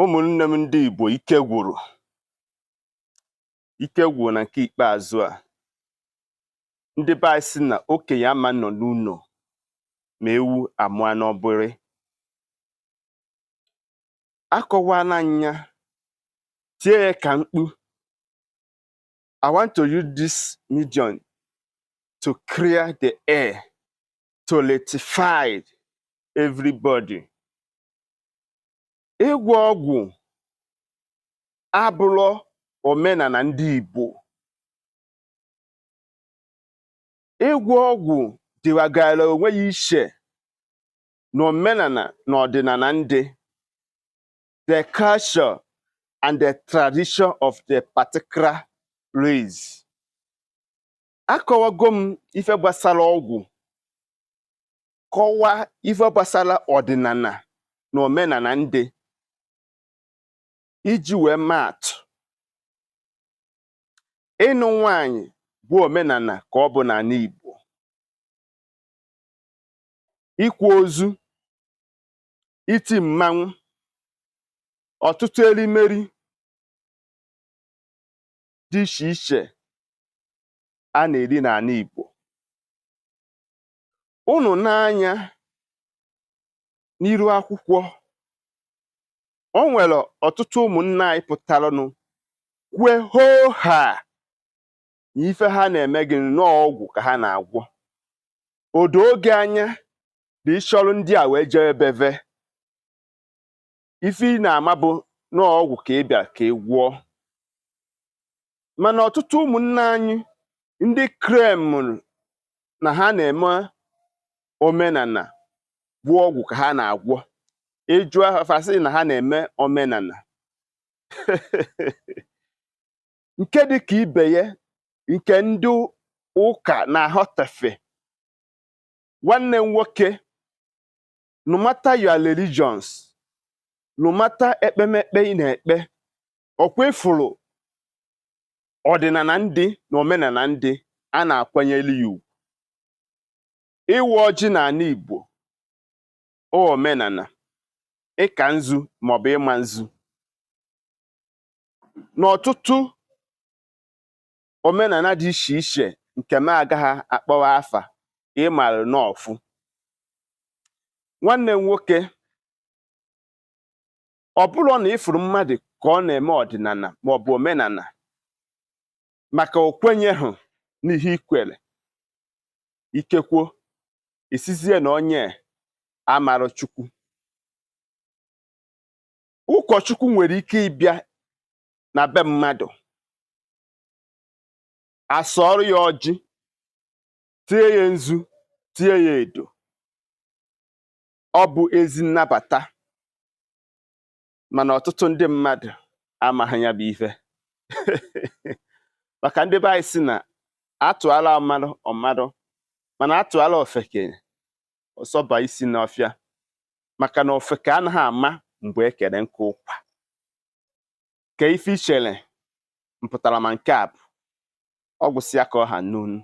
ụmụnne m ndị Igbo ike gwụrụ ike gwụrụ na nke ikpeazụ a ndị be anyị sị na okenye ama nọ n'ụlọ ma ewu amụọ n'ọbụrị akọwala m ya tie ya ka mkpu I want to use this medium to clear the air to rectify everybody ịgwọ ọgwụ abụrọ omenala ndị Igbo ịgwọ ọgwụ dịwagara onwe ya iche na omenala na ọdịnala ndị the culture and the tradition of the particular race akọwago m ife gbasara ọgwụ kọwaa ife gbasara ọdịnala na omenala ndị iji wee maa atụ ịnụ nwanyị bụ omenala ka ọ bụ n'ala Igbo ikwa ozu iti mmanwụ ọtụtụ erimeri dị iche iche a na-eri n'ala Igbo ụnụ nee anya n'iru akwụkwọ o nwere ọtụtụ ụmụnna anyị pụtaranụ kwue hoo haa na ife ha na-eme gị na ọ ọgwụ ka ha na-agwọ o doo gị anya na ị chọrọ ndị a wee jee be ve ife ị na-ama bụ na ọgwụ ka ị bịara ka ị gwọọ mana ọtụtụ ụmụnna anyị ndị claimụrụ na ha na-eme omenala bụ ọgwụ ka ha na-agwọ ị jụọ fa sị na ha na-eme omenala nke dị ka ibe ya nke ndị ụka na-aghọtafe nwanne m nwoke no matter your religions no matter ekpemekpe ị na-ekpe ọ kwa ị fụrụ ọdịnala ndị na omenala ndị a na-akwanyere ya ugwu ịwa ọjị n'ala Igbo ọ omenala ịka nzu maọbụ ịma nzu n'ọtụtụ omenala dị iche iche nke m agaghị akpọwa afa ị mara n'ọfụ nwanne m nwoke ọ bụrụ na ị fụrụ mmadụ ka ọ na-eme ọdịnala ma ọ bụ omenala maka o kwenyeghị n'ihe i kwere ikekwo ị sịzie na onye amarọ chukwu ụkọchukwu nwere ike ịbịa na be mmadụ a sọọrọ ya ọjị tie ya nzu tie ya edo ọ bụ ezi nnabata mana ọtụtụ ndị mmadụ amaghị ya bụ ife maka ndị be anyị sị na atụala ọmarụ ọ marụ mana atụala ofeke ọ sọba isi n'ọfịa maka na ofeke anaghị ama mgbe e kere nkụ ụkwa kee ife i chere m pụtara ma nke a bụ ọ gwụsịa ka ọ ha n'ọnụ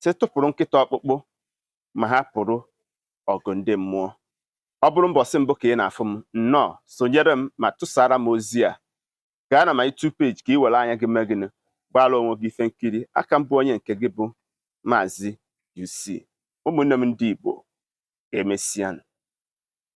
sị tụpụrụ nkịta ọkpụkpụ ma hapụrụ ọgụ ndị mmụọ ọ bụrụ mbọsị mbụ ka ị na-afụ m nnọọ sonyere m ma tụsara m ozi a gaa na my YouTube page ka ị were anya gị mee gịnị gbaara onwe gị ife nkiri aka m bụ onye nke gị bụ maazị UC ụmụnne m ndị Igbo emesianụ